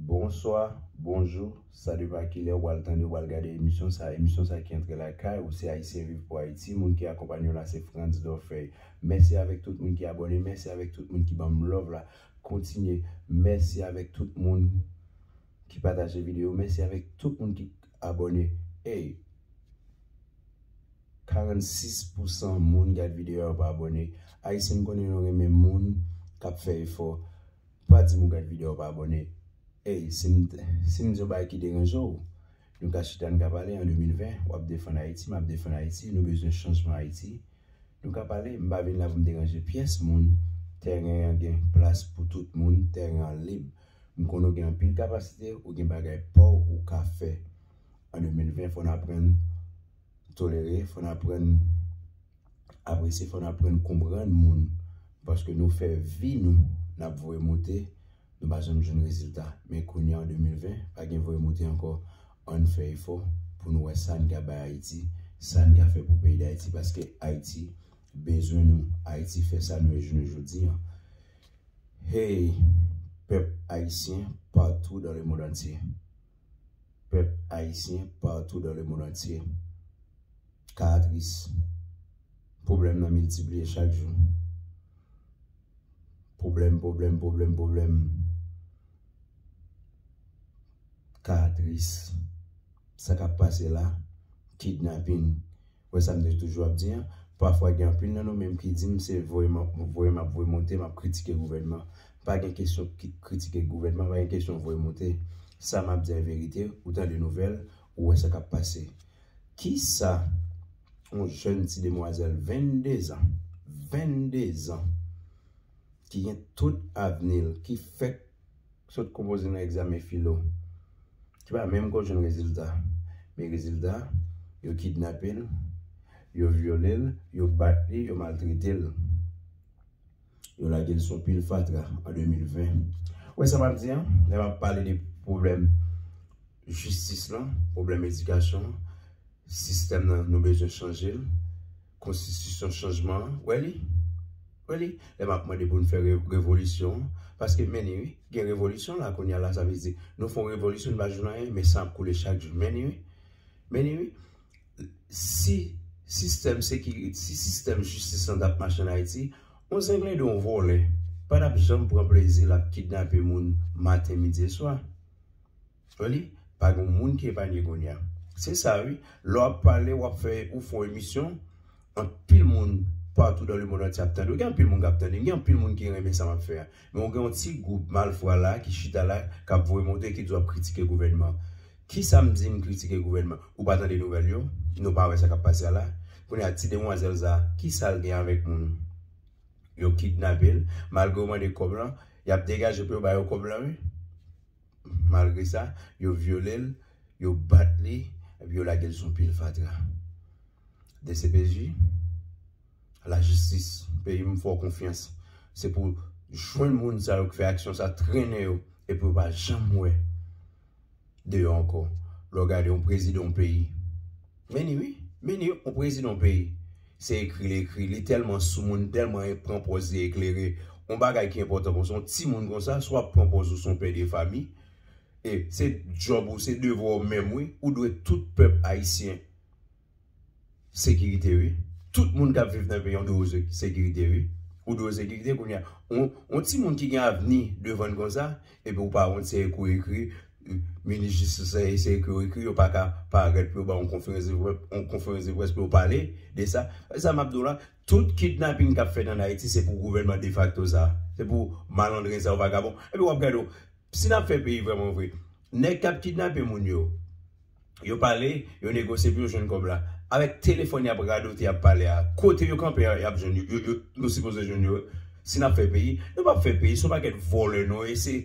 Bonswa, bonjou, sa depa kilè ou pral tande ou pral gade emisyon sa, emisyon sa ki antre lakay ou se Ayisyen Viv Pou Ayiti, moun ki akonpanye w la se Frantz Dorfeuille. Mèsi avèk tout moun ki abòne, mèsi avèk tout moun ki banm love la, kontinye, mèsi avèk tout moun ki pataje videyo, mèsi avèk tout moun ki abòne, ey 46 pou san moun gad videyo a yo pa abòne, Ayisyen m konnen nou renmen moun kap fè efò. Pa dim ou gad video pa abòne Ey sim di yon bagay ki deranje w Nou ka chita n ka pale an 2020 wap defann ayiti map defann ayiti nou bezwen chanjman ayiti Nou ka pale m pa vin la pou m deranje pyès moun Tèren an gen plas pou tout moun tèren an lib M konnen w gen anpil kapasite ou gen bagay paw ou ka fè An 2020 fò n aprann tolere fò n aprann Apre se fò n aprann konprann moun paske nou fè vi nou n ap voye moute nou pa janm jwenn rezilta men kounya an 2020 pa gen voye moute ankò ann fè efò pou nou wè sa n ka bay Ayiti sa n ka fè pou peyi Dayiti paske Ayiti bezwen nou Ayiti fè sa nou ye jounen jodi an Hey pèp ayisyen patou dan lemond antye. pèp ayisyen patou dan lemond antye ka atris. Pwoblèm nan miltipliye chak jou. Pwoblèm, pwoblèm, pwoblèm, pwoblèm ka atris. Sa k ap pase la, kidnapin, Wè sa m te toujou ap di an, pafwa gen anpil nan nou menm ki di m se voye map voye map voye monte map kritike gouvènman. Pa gen kesyon kritike gouvènman, pa gen kesyon voye monte. Sa map di an verite, ou tande nouvèl, ou wè sa kap pase. Kisa yon jèn ti demwazèl 22 zan, 22 zan ki gen tout avni l, ki fèk sot konpoze nan egzamen filo ki pa menm kò jwenn rezilta men rezilta yo kidnape l yo vyole l yo bat li yo maltrete l yo lage l sou yon pil fatra an 2020 ou wè sa m ap di an lè m ap pale de pwoblèm jistis lan pwoblèm edikasyon sistèm nan nou bezwen chanje l Konstitisyon chanjman an wè li wè li lè map mande pou nou fè revolisyon an paske men ni wi gen revolisyon la kounya la sa vle di nou fon revolisyon nou pa jwenn anyen men san ap koule chak jou men ni wi men ni wi si sistèm sekiri si sistèm jistis lan tap mache an ayiti yon zenglendo yon vòlè pa tap janm pran plezi lap kidnape moun maten midi e swa. Ou li? Pa gen moun ki epanye kounye a. Se sa wi, lè w ap pale, w ap fè, ou fè yon emisyon, anpil moun patou dan lemond antye ap tande w. Gen anpil moun k ap tande m, gen anpil moun ki renmen sa m ap fè a. Men ou gen yon ti gwoup malfra la ki chita la, k ap voye monte, ki di w ap kritike gouvènman an. Ki sa m di m kritike gouvènman? Ou pa tande nouvèl yo? Nou pa wè sa k ap pase a la? Kounye a, ti demwazèl sa a, ki sa l gen avèk moun? Yo kidnape l, malgre yo mande kòb lan, y ap degaje pou yo ba yo kòb lan wi. Malgre sa, yo vyole l, yo bat li, epi yo lage l sou pil fatra. Dcpj, lajistis peyi m fè w konfyans, se pou jwenn moun sa yo k fè aksyon sa, trennen yo, epi yo pa janm wè deyò ankò. Lè w gade yon prezidan yon peyi, men ni wi, men ni yon prezidan yon peyi. Se ekri li ekri, li tèlman soumoun, li tèlman pran pòz li eklere, yon bagay ki enpòtan konsa, yon timoun konsa, si w ap pran pòz ou se yon pè de fami, e se djòb ou, se devwa w menm wi, ou dwe tout pèp ayisyen sekirite wi, tout moun k ap viv nan peyi an dwe yo sekirite wi, ou dwe yo sekirite kounye a, yon timoun ki gen avni devan l konsa. Epi ou pa wont se ek ou ekri, minis jistis la e se ek yo ekri, yo pa ka parèt pou yo ba w yon konferans de près, yon konferans de près pou yo pale de sa. E sa map di w la, tout kidnaping kap fèt an Ayiti se pou gouvènman defakto sa, se pou malandren sa yo vagabon. Epi wap gade w, si nap fè peyi vrèman vre, nèg kap kidnape moun yo, Yo pale, yo negosye pou yo jwenn kòb la. Avèk telefòn y ap radote y ap pale a, kote yo kanpe a y ap jwenn yo, yo sipoze jwenn yo. Si n ap fè peyi, nou p ap fè peyi, se yon pakèt vòlè nou ye, se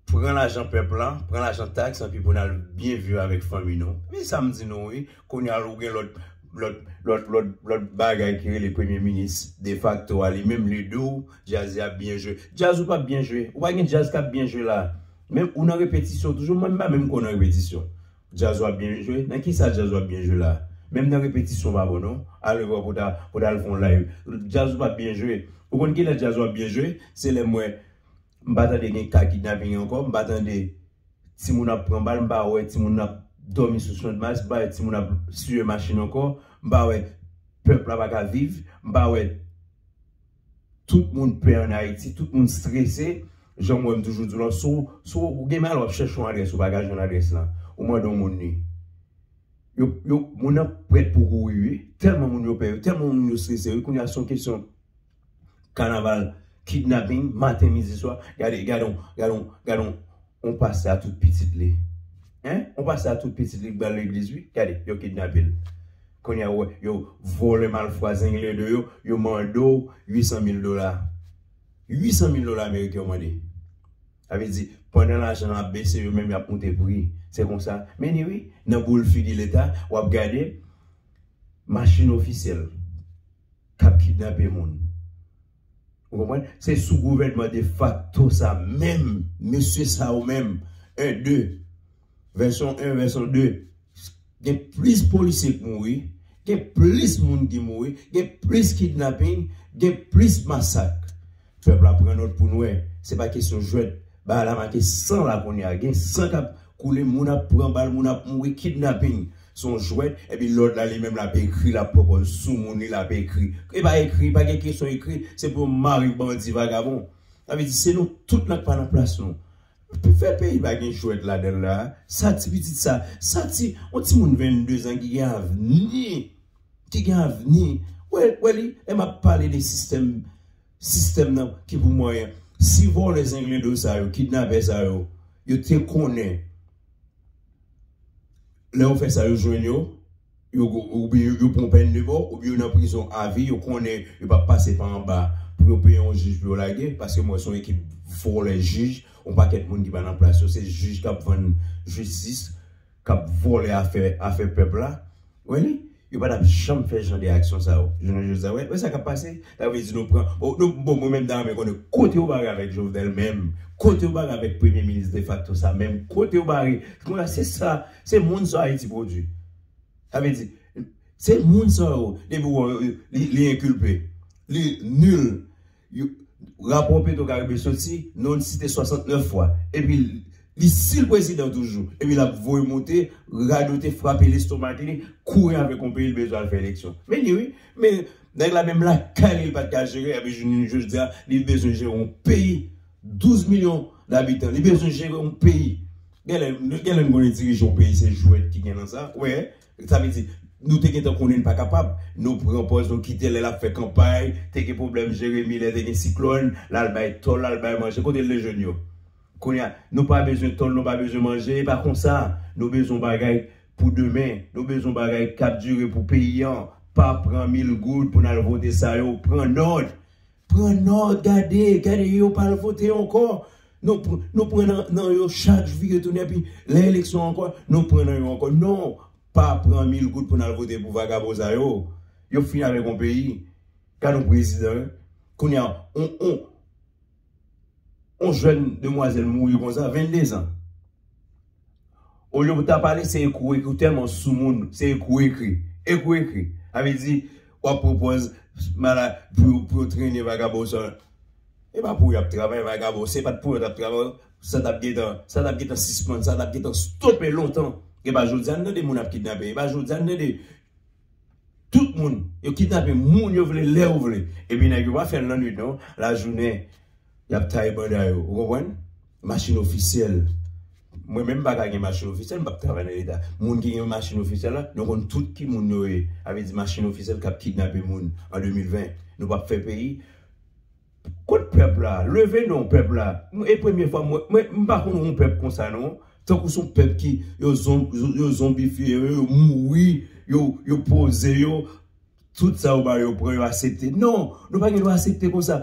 pran lajan pèp la, pran lajan taks anpi pou n al byen viv avèk fanmi nou. Men sa m di nou wi, kounye a ou gen lòt, lòt, lòt, lòt, lòt bagay ki rele premye minis defakto a li menm li di w djaz y ap byen jwe. Djaz ou p ap byen jwe, ou pa gen djaz k ap byen jwe la a. Men ou nan repetisyon toujou mwen m pa menm kwè nan repetisyon djaz wap byen jwe nan kisa djaz wap byen jwe la menm nan repetisyon w pa bon non ale wè pou ta pou ta al fon live djaz ou pap byen jwe ou konn kilè djaz wap byen jwe se lè m wè m pa tande gen ka kidnaping ankò m pa tande timoun ap pran bal m pa wè timoun ap dòmi sou chandmas m pa wè timoun ap siye machin ankò m pa wè pèp la pa ka viv m pa wè. Tout moun pè an Ayiti, tout moun strese, janm wè m toujou di w lan, si w ou gen mal w ap chèche yon adrès ou pa ka jwenn adrès lan, ou mande yon moun li, yo yo moun nan prèt pou kouri wi, tèlman moun yo pè yo, tèlman moun yo strese wi, kounya se yon kesyon kanaval, kidnapping, maten midi swa, gade gade yon gade yon gade yon. On pastè a tout pitit li hein on pastè a tout pitit li k bal legliz wi gade yo kidnapel kounye a ou wè yo vòlè malfwa zengle de yo yo mande w 800 mil dola 800 mil dola ameriken yo mande sa vle di pandan lajan an ap bese yo menm yap moute pri se konsa men ye wi nan boul figi leta wap gade machin ofisyèl kap kidnape moun. Ou konprann? Se sou gouvènman defakto sa menm mesye sa yo menm 1, 2, vèsyon 1, vèsyon 2, gen plis polisye k mouri, gen plis moun ki mouri, gen plis kidnaping, gen plis masak. Pèp la pran nòt pou n wè. Se pa kesyon jwèt. Bagay la make san la kounye a. Gen san k ap Koule moun ap pran bal moun ap mouri kidnapping son jwèt epi lòt la li menm lap ekri lap pwopòz sou moun li lap ekri e pa ekri pa gen kesyon ekri se pou yo mare bandi vagabon sa vle di se nou tout nan k pa nan plas nou pou fè peyi pa gen jwèt ladanl la sa ti pitit sa sa ti yon ti moun 22 zan ki gen avni ki gen avni wè wè li lè map pale de sistèm Sistèm nan ki pou mwen si vòlè zengledo sa yo kidnapè sa yo yo te konnen lè yo fè sa yo jwenn yo yo oubyen yo pran pèn de mò oubyen yo nan prizon avi yo konnen yo pap pase pa anba pou yo peye yon jij pou yo lage paske mwen wè se yon ekip vòlè jij yon pakèt moun ki pa nan plas yo se jij kap vann jistis. kap vòlè afè afè pèp la wè li yo pa tap janm fè jan de aksyon sa yo jounen jodi a wè sa kap pase sa vle di nou pran oh nou bon mwen menm ta renmen konnen kote yo bare avèk jovenel menm kote yo bare avèk premye minis defakto sa menm kote yo bare kounye a se sa se moun sa ayiti pwodwi sa vle di se moun sa yo depi ou wè li li enkilpe li nil. Yo, rapò petro karibe soti, non li site 69 fwa. Epi li sil prezidan toujou. Epi lap voye moute, radote, frape lestomak li, kouri avèk yon peyi li bezwen al fè eleksyon. Men li wi. Men nèg la menm lakay li li pat ka jere epi jounen jodia li bezwen jere yon peyi 12 milyon dabitan. Li bezwen jere yon peyi. Genlè, genlè nou konnen dirije yon peyi se jwèt ki gen nan sa. Ou wè? Sa vle di, nou te gentan konnen li pa kapab. Nou pran pòz nou kite l lè l ap fè kanpay, te gen pwoblèm Jeremi lè te gen siklòn, l al bay tò l, l al bay manje. Kote l te jwenn yo? Kounye a, nou pa bezwen tò l, nou pa bezwen manje. E pa konsa! Nou bezwen yon bagay pou demen. Nou bezwen yon bagay k ap dire pou peyi an. Pa pran mil goud pou n al vote sa yo. Pran nòt! Pran nòt gade gade yo pa al vote ankò nou nou pran nan yo chak jou yo tounen epi lè eleksyon ankò nou pran nan yo ankò non pa pran mil goud pou n al vote pou vagabon sa yo yo fin avèk yon peyi gad yon prezidan kounye a yon yon yon jèn demwazèl mouri konsa 22 zan Olye pou ta pale se ekri ou ekri ou tèlman sou moun se ekri ou ekri ekri ou ekri sa vle di wap pwopòz mala pou yo trennen vagabon sa e pa pou yap travay vagabon se pat pou yo tap travay sa tap gentan sa tap gentan sispann sa tap gentan stope lontan e pa jodi a nou tande moun ap kidnape e pa jodi a nou tande Tout moun yo kidnape moun yo vle lè yo vle. Epi nèg yo pa fè l nan nwit non, lajounen y ap taye banda yo. Ou konprann? Machin ofisyèl. Mwen menm m pa ka gen machin ofisyèl, m p ap travay nan Leta. Moun ki gen machin ofisyèl la, nou konn tout ki moun yo ye. Sa vle di machin ofisyèl k ap kidnape moun an 2020. Nou p ap fè peyi. Kot pèp la? Leve non pèp la. E premye fwa mwen, mwen m pa konn yon pèp konsa non. Tankou son pèp ki yo yo zonbifye yo, yo mouri, yo yo poze yo, tout sa yo ba yo pran yo asepte. Non, nou pa gen dwa asepte konsa.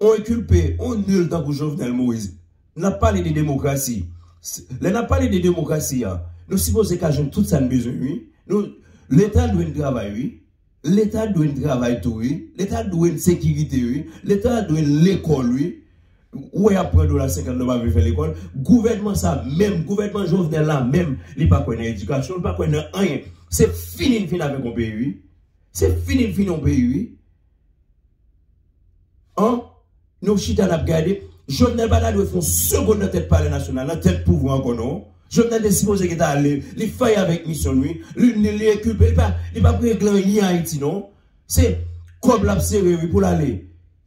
On enkilpe, on nil tankou Jovenel Moise. N ap pale de demokrasi. Lè n ap pale de demokrasi a, nou sipoze ka jwenn tout sa n bezwen wi. Leta dwe n travay wi. Leta dwe n travay tou wi, leta dwe n sekirite wi, leta dwe n lekòl wi, ou wè yap pran dola 50 nou pa vle fè lekòl, gouvènman sa menm, gouvènman Jovenel la menm li pa kwè nan edikasyon, li pa kwè nan anyen, se fini n fin avèk yon peyi wi, se fini n fini yon peyi wi. An Nou chita nap gade Jovenel pata dwe fon segond nan tèt palè nasyonal nan tèt pouvwa ankò non Jovenel te sipoze gentan ale li fèy avèk misyon n wi li nil li enkilpe li pa li pap regle anyen ayiti non se kòb lap sere wi poul ale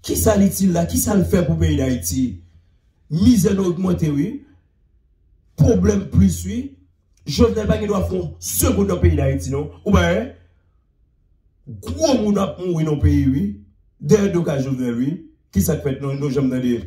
kisa l itil la kisa l fè pou peyi dayiti mizè nou ogmante wi pwoblèm plis wi Jovenel pa gen dwa fon segond nan peyi dayiti non ou pa wè. Gwo moun ap mouri nan peyi wi dèyè do kay jovenel wi kisak fèt non nou janm tande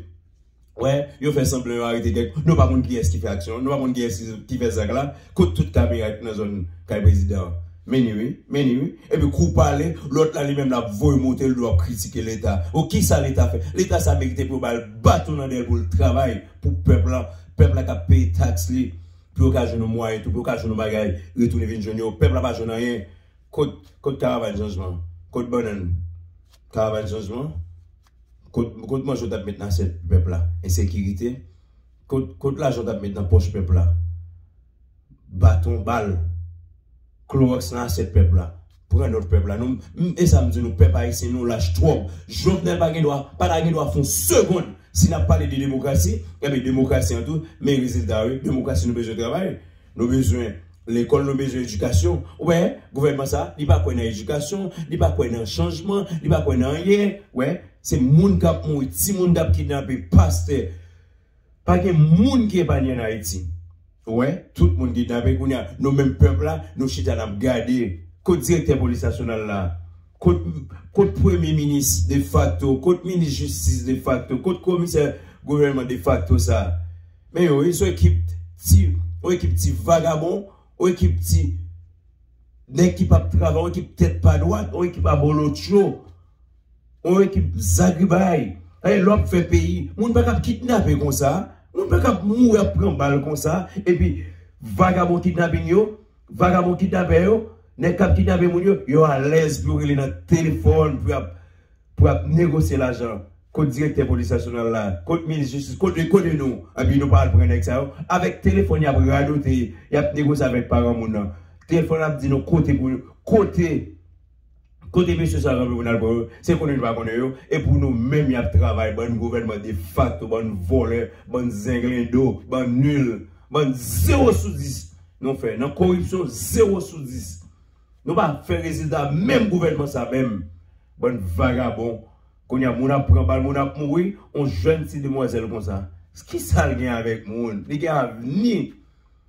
wè yo fè sanblan yo arete kèk nou pa konn kiyès ki fè aksyon an nou pa konn kiyès ki fè zak la kot tout kamera ki nan zòn kay prezidan an menni wi menni wi epi kou pale lòt la li menm lap voye moute ldo ap kritike leta bon kisa leta fè leta sa merite pou yo bal baton nan dèyèl poul travay pou pèp la pèp la kap peye taks li pou yo ka jwenn yon mwayen tou pou yo ka jwenn yon bagay retounen vin jwenn yo pèp la pa jwenn anyen Kot kot karavan chanjman kot bannann karavan chanjman kot kot manje ou tap met nan asyèt pèp la ensekirite kot kot lajan ou tap met nan pòch pèp la baton bal klowòks nan asyèt pèp la pran nòt pèp la nou m esam di nou pèp ayisyen nou lach twòp jovenel pa gen dwa pa ta gen dwa fon segond si nap pale de demokrasi enben demokrasi an tou men rezilta wi demokrasi nou bezwen travay Nou bezwen lekòl, nou bezwen edikasyon. Ou wè, gouvènman sa a, li pa kwè nan edikasyon, li pa kwè nan chanjman, li pa kwè nan anyen. Ou wè, se moun k ap mouri, timoun k ap kidnape, pastè. Pa gen moun ki epanye ann Ayiti. Ou wè, tout moun kidnape. Kounye a, nou menm pèp la, nou chita n ap gade. Kot direktè polis nasyonal la? Kot premye minis defakto? Kot minis jistis defakto? Kot komisè gouvènman defakto sa a? Men yo wi son ekip ti on ekip ti vagabon on ekip ti nèg ki pap travay on ekip tèt pa dwat on ekip abolotcho on ekip zagribay lè wap fè peyi moun pa kap kidnape konsa moun pa kap mouri ap pran bal konsa epi vagabon kidnaping yo vagabon kidnapè yo nèg kap kidnape moun yo yo alèz pou yo rele nan telefòn pou yap Pou yap negosye lajan kot direktè polis nasyonal la, kot minis jistis, kot lekone nou, epi nou pa al pran nèg sa yo, avèk telefòn yap radote, yap negosye avèk paran moun nan, telefòn ap di nou kote pou kote kote mesye sa yo kanpe pou nal pran yo, se konnen nou pa konnen yo, e pou nou menm yap travay, bann gouvènman defakto, bann vòlè, bann zenglendo, bann nul, bann zewo sou dis nou fè nan koripsyon zewo sou dis. Nou pa fè rezilta menm gouvènman sa menm bann vagabon kounye a moun ap pran bal moun ap mouri on jèn ti demwazèl konsa kisal gen avèk moun li gen avni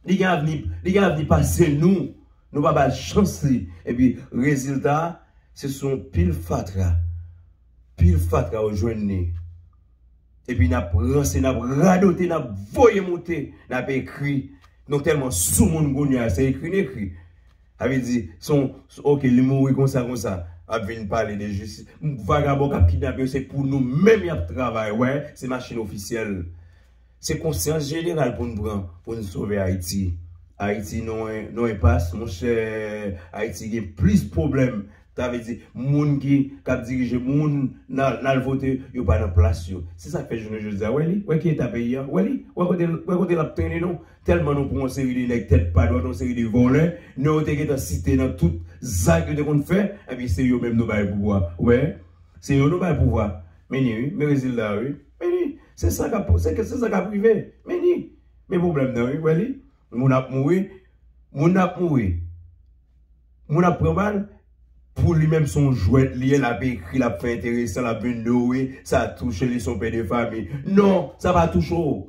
li gen avni li gen avni pase nou nou pa bal chans li epi rezilta se sou on pil fatra pil fatra ou jwenn li epi nap ranse nap radote nap voye moute nap ekri nou tèlman soumoun kounye a se ekri n ekri. Sa vle di son ok li mouri konsa konsa ap vin pale de jistis vagabon kap kidnape yo se pou nou menm yap travay wè se machin ofisyèl se konsyans jeneral poun pran poun sove ayiti ayiti non non enpas monchè ayiti gen plis pwoblèm sa vle di moun ki kap dirije moun nal vote yo pa nan plas yo se sak fè jounen jodi a wè li wè ki eta peyi a wè li wè kote lap trennen nou Tèlman nou pran yon seri de nèg tèt pa dwat, yon seri de vòlè, non yo te gentan site nan tout zak yo te konn fè, ebyen se yo menm nou bay pouvwa. Wè, se yo nou bay pouvwa. Men ni wi, men rezilta a wi. Men ni, se sa k ap, se sa k ap rive. Men ni, men pwoblèm nan wi, wè li. Moun ap mouri, moun ap mouri, moun ap pran bal, pou li menm se yon jwèt li ye, l ap ekri, l ap fè enteresan, l ap vin douwe, sa touche li, se yon pè de fami. Non, sa pa touche w.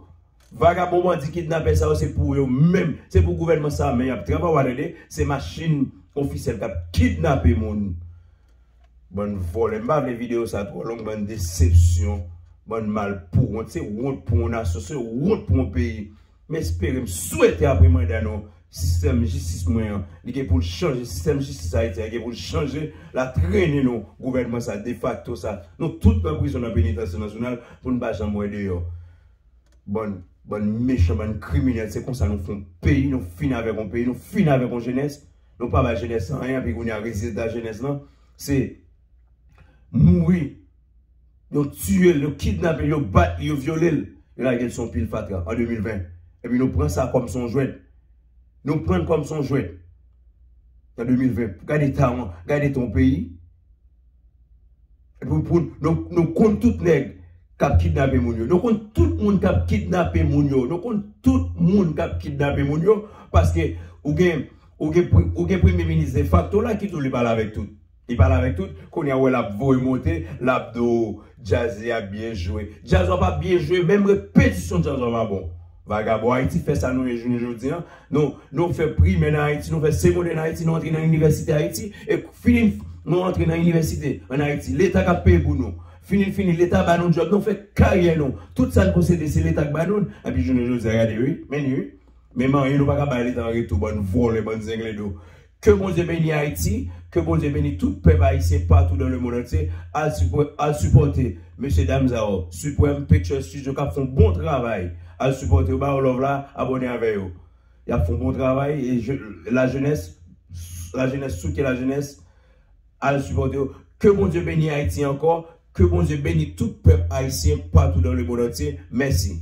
Vagabon bandi kidnapè sa yo se pou yo menm se pou gouvènman sa men yap trava wa tande se machin ofisyèl kap kidnape moun bann vòlè m pa vle video sa twò long bann desepsyon bann mal pou wont se wont pou yon nasyon se wont pou yon peyi m espere m swete apre manda nou sistèm jistis mwen an li gen poul chanje sistèm jistis ayiti a gen poul chanje la trene nou gouvènman sa defakto sa nou tout nan prizon nan penitansye nasyonal poun pa janm wè deyò. Bann bann mechan bann kriminèl se konsa nou fon peyi nou fini avèk yon peyi nou fini avèk yon jenès nou pa bay jenès lan anyen epi kounya rezilta jenès lan se mouri yo tiye l yo kidnape l yo bat li yo vyole l yo lage l sou yon pil fatra an 2020 epi nou pran sa kòm se yon jwèt nou pran l kòm se yon jwèt an 2020 gad eta yon gad eta yon peyi. Nou konn tout nèg kap kidnape moun yo nou konn tout moun kap kidnape moun yo nou konn tout moun kap kidnape moun yo paske ou gen ou gen ou gen premye minis defakto la ki tou li pale avèk tout li pale avèk tout kounye a wè lap voye monte lap di w djaz li ap byen jwe djaz wap ap byen jwe menm repetisyon djaz wap ap bon Vagabon Ayiti fè sa nou ye jounen jodi an. Nou nou fè primè nan Ayiti, nou fè segondè nan Ayiti, nou antre nan inivèsite Ayiti e fini nou antre nan inivèsite an Ayiti. Leta k ap peye pou nou. Fini n fini Leta ba nou djòb, nou fè karyè nou. Tout sa n posede se Leta k ba nou l. Epi jounen jodi a gade wi, men ni wi. Menm anyen nou pa ka bay Leta an retou bann vòlè, bann zenglendo. Ke Bondye beni Ayiti, ke Bondye beni tout pèp Ayisyen patou dan le mond antye, al sipò al sipòte mesye dam sa yo, Supreme Picture Studio kap fon bon travay, al sipòte yo ba yo love la, abòne avè yo yap fon bon travay e je la jenès la jenès soutyen la jenès al sipòte yo, ke Bondye beni Ayiti ankò, ke Bondye beni tout pèp Ayisyen patou dan le mond antye, mèsi.